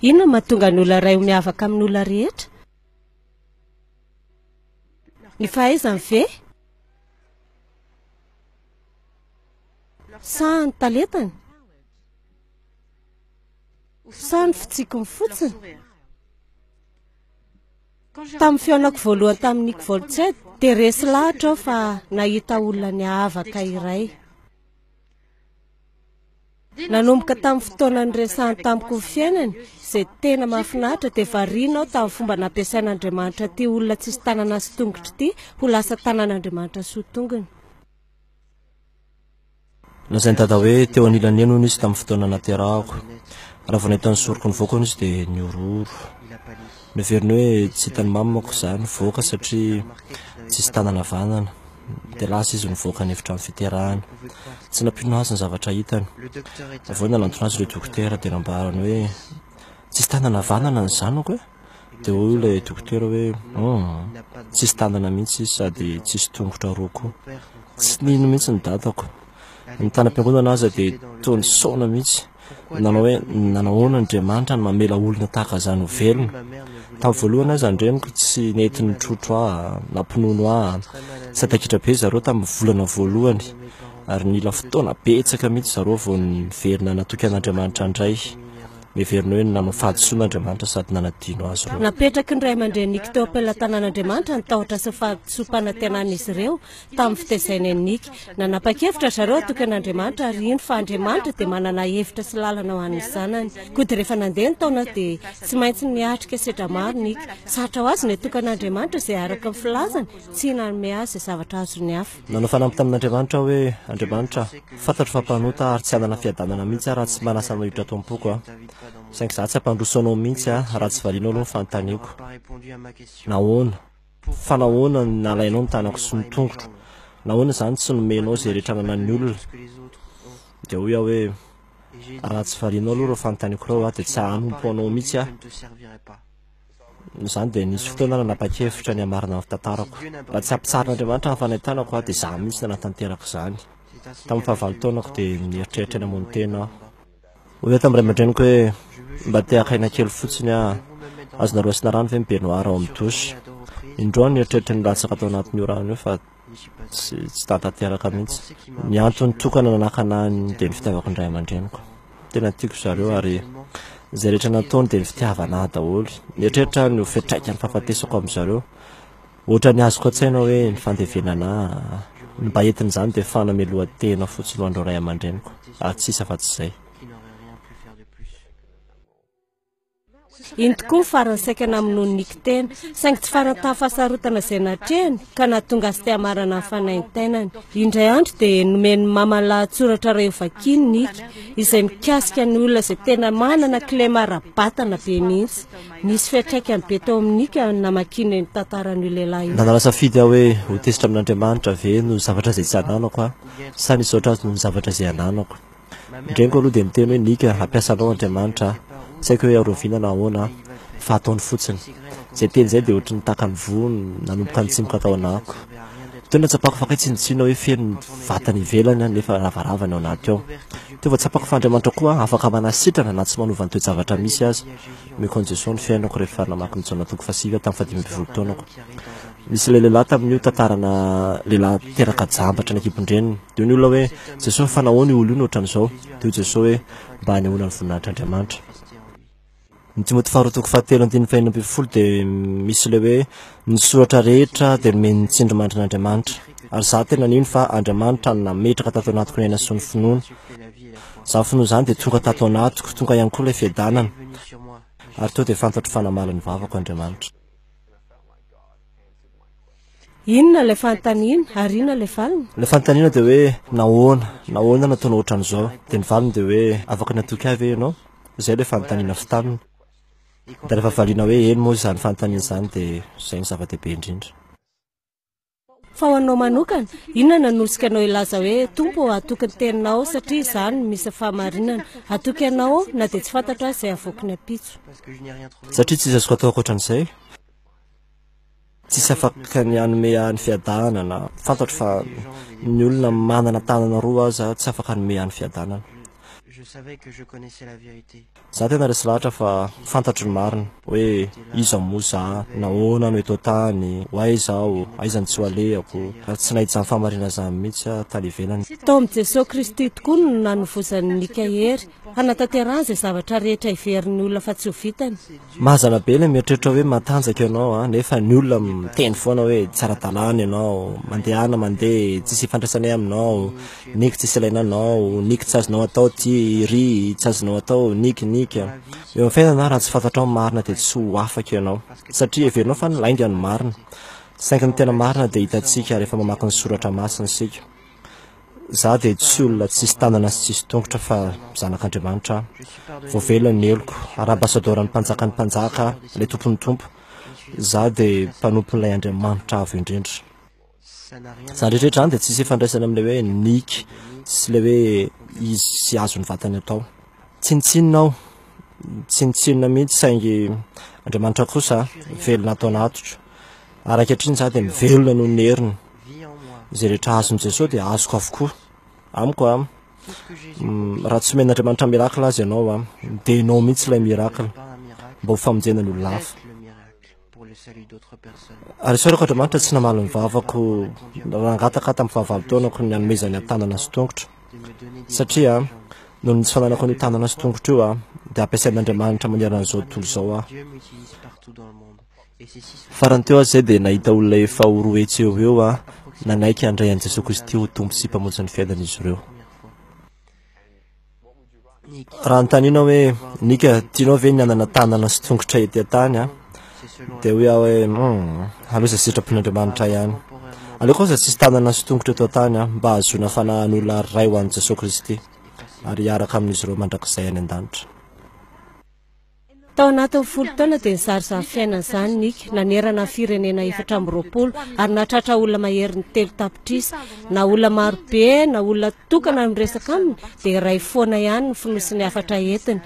Inona no mahatonga ny olona iray ho miavaka amin' ny olona rehetra? Ny fahaizany ve? Sa ny talentany? Sa ny fitsikiny fotsiny? Tamin' ny fihaonako voalohany tamin' i Nick Volched dia resy lahatra aho fa nahita olona niavaka iray. Nanomboka tamin'ny fotoana niresahany tamiko ny fiainany, izay tena mahafinaritra, dia variana aho tamin'ny fomba nampiasain'Andriamanitra ity olona tsisy tanana sy tongotra ity ho lasa tanan'Andriamanitra sy ho tongony. Lazain'i Dada hoe teo anilan'ny eny hono izy tamin'ny fotoana naterahako. Raha vao nahita ny soroko nivoaka hono izy dia nihorohoro. Noheveriny hoe tsy hitan'i Mamy manko izaho nivoaka satria tsisy tanana havanana. Dia lasa izy nivoaka ny efitrano fiterahana. Tsy nampino azy ny zavatra hitany. Avy eo nanantona azy ireo dokotera dia nambarany hoe tsisy tanana havanana ny zanako e! Dia hoy ilay dokotera hoe humm, tsisy tanana mihitsy izy sady tsisy tongotra roa koa. Tsy nino mihitsy ny dadako. Ny tany am-piangonana aza dia toa nisaona mihitsy, nanao hoe, Nanahoana Andriamanitra no mamela olona tahaka izany ho velona? Tamin'ny voalohany aza ny reniko tsy nety nitrotro ahy na mpinono ahy. Sadaikitra be zareo tamin'ny volana voalohany, ary nila fotoana betsaka mihitsy zareo vao niverina natoky an' Andriamanitra indray. Miheverina hoe nanao fahadisoana Andriamanitra sady nanadino azy ireo. Napetraky ny ray aman-dreniniko teo am-pelatanan'Andriamanitra ny tahotra sy ny fahadisoam-panantenana izy ireo. tamin'ny fitezaina eny Nika. Nanapa-kevitra ry zareo hatoky an'Andriamanitra ary hino fa Andriamanitra dia manana hevitra sy lalana ho an'ny zanany. Koa dia rehefa nandeha ny taona dia tsy maintsy niatrika sedra maro Nika. Sarotra ho azy ny hatoky an'Andriamanitra izay araka ny filazany tsy hanome azy izay zavatra azon'ny hafa. Nanao fanamby tamin'Andriamanitra aho hoe, Andriamanitra, fantatro fa mpanota ary tsy hanana fiadanana mihitsy aho raha tsy manasa anao hiditra ato am-poko aho. Saingy izaho tsy hampandroso anao mihitsy aho raha tsy varianao aloha ny fanontaniako. Nahoana? Fa nahoana no nalainao ny tanako sy ny tongotro? Nahoana izany tsy nomenao izay rehetra ananan'ny olona? Dia hoy aho hoe, Raha tsy varianao aloha ireo fanontaniako ireo, dia tsy hanompo anao mihitsy aho. Noho izany dia nisy fotoana aho nanapa-kevitra ny hamarana ny tantarako. Raha tsy hampitsarin'Andriamanitra ny fanahitanako, dia izaho mihitsy no hanatanteraka izany. Tamin'ny fahavalo taonako dia nieritreritra ny hamono tena aho. Hoy aho tamin'ny ray aman-dreniko hoe, Mba te haka aina kely fotsiny aho. Azonareo asiana rano ve ny baignoire ao amin'ny douche? Indroa aho no nieritreritry ny latsaka tao anatin'io rano io fa tsy tahatanteraka mihitsy. Ny antony tokana nanakana ahy dia ny fitiavako ny ray aman-dreniko. Tena tiako ry zareo ary izay rehetra nataony dia ny fitiavana ahy daholo. Nieritreritra aho ny ho fetraikany fahafatesako amin'i zareo. Ohatra ny azoko an-tsaina hoe ny fandevenana ahy, ny mba entin'izany dia fanamelohan-tena fotsiny ho an'ireo ray aman-dreniko, ary tsy sisa afa-tsy izay. Iny tokoa farany saika namonoan'i Nick tena, saingy tsy farany tahafahasarotana izay natrehany ka nahatonga azy te hamarana ny fanaintainany. Indray andro dia nomen'ny mamany lahatsoratra iray hovakian'i Nick, izay mikasika ny olona izay tena manana kilema ara-batana be mihitsy. Nisy fiantraikany be tao amin'i Nika ny namakiany io tantaran'io lehilahy io. Nanala safidy aho hoe ho tezitra amin'Andriamanitra ve no zavatra izay tsy ananako aho, sa ny hisaotra Azy noho ny zavatra izay ananako. Ny reniko aloha dia miteny hoe, Nika, hampiasa anao Andriamanitra aho. Tsy haiko hoe hiarovina na ahoana aho, fa ataony fotsiny. Izay teny izay dia ohatry ny taka ny voa nanomboka nitsimoka tao anahako. Teo ny hatsapako fa kay tsinontsinona hoe feno ny vatany ivelany nefa ravarava ny ao anaty ao. Teo vao tsapako fa Andriamanitra koa afaka manasitrana na tsy manova ny toe-javatra misy aza. Mekony Jesosy ny fiainako rehefa namaky ny Jaona toko fahasivy aho tamin'ny fahadimy ambin'ny folo taonako. Nisy ilay lehilahy tamin'io tantarana lehilahy teraka jambatra ny ankibon-dreniny. Dia hoy ny olona hoe, Jesosy, fa nahoana io olona io no ohatran'izao? Dia hoy Jesosy hoe, Mba hanehoana ny voninahitr'Andriamanitra. Ny Timoty faharoa toko fahatelo andininy fahenina ambin'ny folo dia misy ilay hoe, Ny soratra rehetra dia nomen'ny tsindrimandrin'Andriamanitra, ary izaho tena nino fa Andriamanitra no nametraka tato anatiko ny aina sy ny finoana. Izany finoana izany dia tonga tato anatiko, tonga ihany koa ilay fiadanana, ary tonga dia fantatro fa namaly ny vavako Andriamanitra. Inona ilay fanontaniana, ary inona ilay valiny? Ilay fanontaniana dia hoe, Nahoana? Nahoana nataonao ohatran'izao? Dia ny valiny dia hoe, Afaka natoky ahy ve ianao? Izay ilay fanontaniana avy taminy. Dia rehefa variana hoe eny moa izany fanontaniana izany dia izay no zava-dehibe indrindra. Fa ho anao manokana, inona no hanosika anao hilaza hoe, Tompo ô, hatoky ny Teninao, satria izany no misy ny fahamarinana. Hatoky Anao aho, na dia tsy fantatro aza izay havoaky ny ampitso. Satria tsy misy azoko atao ankoatra an'izay. Tsisy afaka ny hanome ahy ny fiadanana. Fantatro fa ny olona manana tanana roa aza tsy afaka hanome ahy ny fiadanana. Za tena resy lahatra fa fantatro ny marina. Hoe iza moa za? Nahoana no eto an-tany? Ho aiza aho? Aiza ny tsy ho alehako? Ary tsy nahita izany fahamarinana izany mihitsy aho tany ivelany. Tao amin'i Jesoa Kristy tokoa no nanovozan'i Mika hery Hanatanterahany izay zavatra rehetra heverin'ny olona fa tsy ho vitany. Mazana be ilay mieritreritra hoe matanjaka ianao a, nefa ny olona miteny foana hoe tsy ara-dalàna ianao, mandehana mandeha tsisy ifandraisanay aminao, niky tsisy ilaina anao, niky tsy azonao atao ity, iry tsy azonao atao, niky, niky. Eo amin'ny fiainana, raha tsy fantatrao ny marina dia tsy ho afaka ianao, satria heverinao fa ny lainga no marina. Saingy ny tena marina dia hitantsika rehefa mamaky ny Soratra Masina isika. Izaho dia tsy olona tsisy tanana sy tsisy tongotra fa zanak'Andriamanitra aho. Voavelona ny heloko. Ara-basadoran'ny Mpanjakan'ny mpanjaka aho, ilay Tompon'ny tompo. Izaho dia mpanompon'ilay Andriamanitra Avo Indrindra. Izany rehetra izany dia tsisy ifandraisany amin'ilay hoe Nik sy ilay hoe izy sy azo ny vatany atao. Tsinontsinona aho, tsinontsinona mihitsy saingy Andriamanitra kosa velona ato anatiko. Ary ankehitriny izaho dia mivelona noho ny heriny. Izay rehetra azon'i Jesoa dia azoko avokoa. Amiko an, mm, raha tsy omen'Andriamanitra miracle azy ianao an, dia ianao mihitsy ilay miracle mba ho famonjena ny olona hafa. Ary isaorako Andriamanitra tsy namaly ny vavako nangataka tamin'ny fahavalo-taonako ny hanomezany ny tanana sy tongotra. Satria noho ny tsy fananako an'io tanana sy tongotra io an, dia ampiasain'Andriamanitra manerana an'izao tontolo izao aho. Farany teo aza izay dia nahita olona efa ho roa hetsy eo ho eo nanaiky handray an'i Jesoa Kristy ho Tompo sy Mpamonjy ny fiainan'izy ireo. Raha notaniana hoe, Nika, tianao ve ny hanana tanana sy tongotra ety an-tany? dia hoy aho hoe, Humm, aleo izay sitrapon'Andriamanitra ihany. Aleoko aza tsisy tanana sy tongotra eto an-tany, mba hahazoana fanahy hanolo ary ray ho an'i Jesoa Kristy, ary hiaraka amin'izy ireo mandrakizay any an-danitra. Tao anatin'ny folo taona dia nizara izany fiainana izany Nick, nanerana ny firenena efatra amby roapolo ary nahatratra olona maherin'ny telo tapitrisa. Na olona maro be na olona tokana no miresaka aminy dia iray foana ihany ny fonosin'ny hafatra entiny.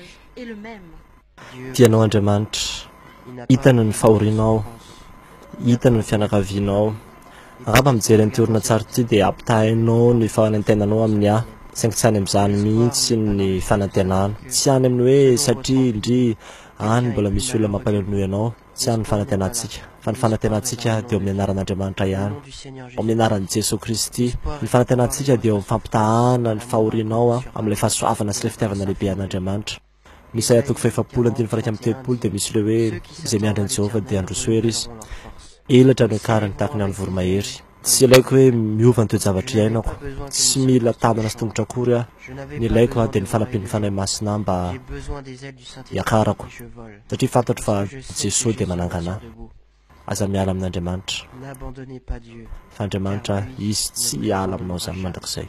Tianao Andriamanitra, hitany ny fahorianao, hitany ny fianakavianao, Angamba mijery an'ity horonantsary ity dia ampitahainao ny fanantenanao amin'ny ahy, saingy tsy any amin'izany mihitsy ny fanantenana. Tsy any amin'ny hoe satria ndry any mbola misy olona mampanononoa ianao, tsy any ny fanantenantsika, fa ny fanantenantsika dia eo amin'ny anaran'Andriamanitra ihany, ao amin'ny anaran'i Jesoa Kristy. Ny fanantenantsika dia eo amin'ny fampitahana ny fahorianao amin'ilay fahasoavana sy ilay fitiavana lehibe an'Andriamanitra. Isaia toko fahefapolo andininy faha iraika amby telopolo dia misy ilay hoe izay miandry an'i Jehovah dia handroso hery izy, elatra no hiakarany tahaka ny an'ny voromahery. Tsy ilaiko hoe miova ny toe-javatra iainako, tsy mila tanana sy tongotra akory aho, ny ilaiko aho dia ny fanampian'ny Fanahy Masina ahy mba hiakarako, satria fantatro fa Jesoa dia manangana ahy. Aza miala amin'Andriamanitra, fa Andriamanitra Izy tsy hiala aminao izany mandrakizay.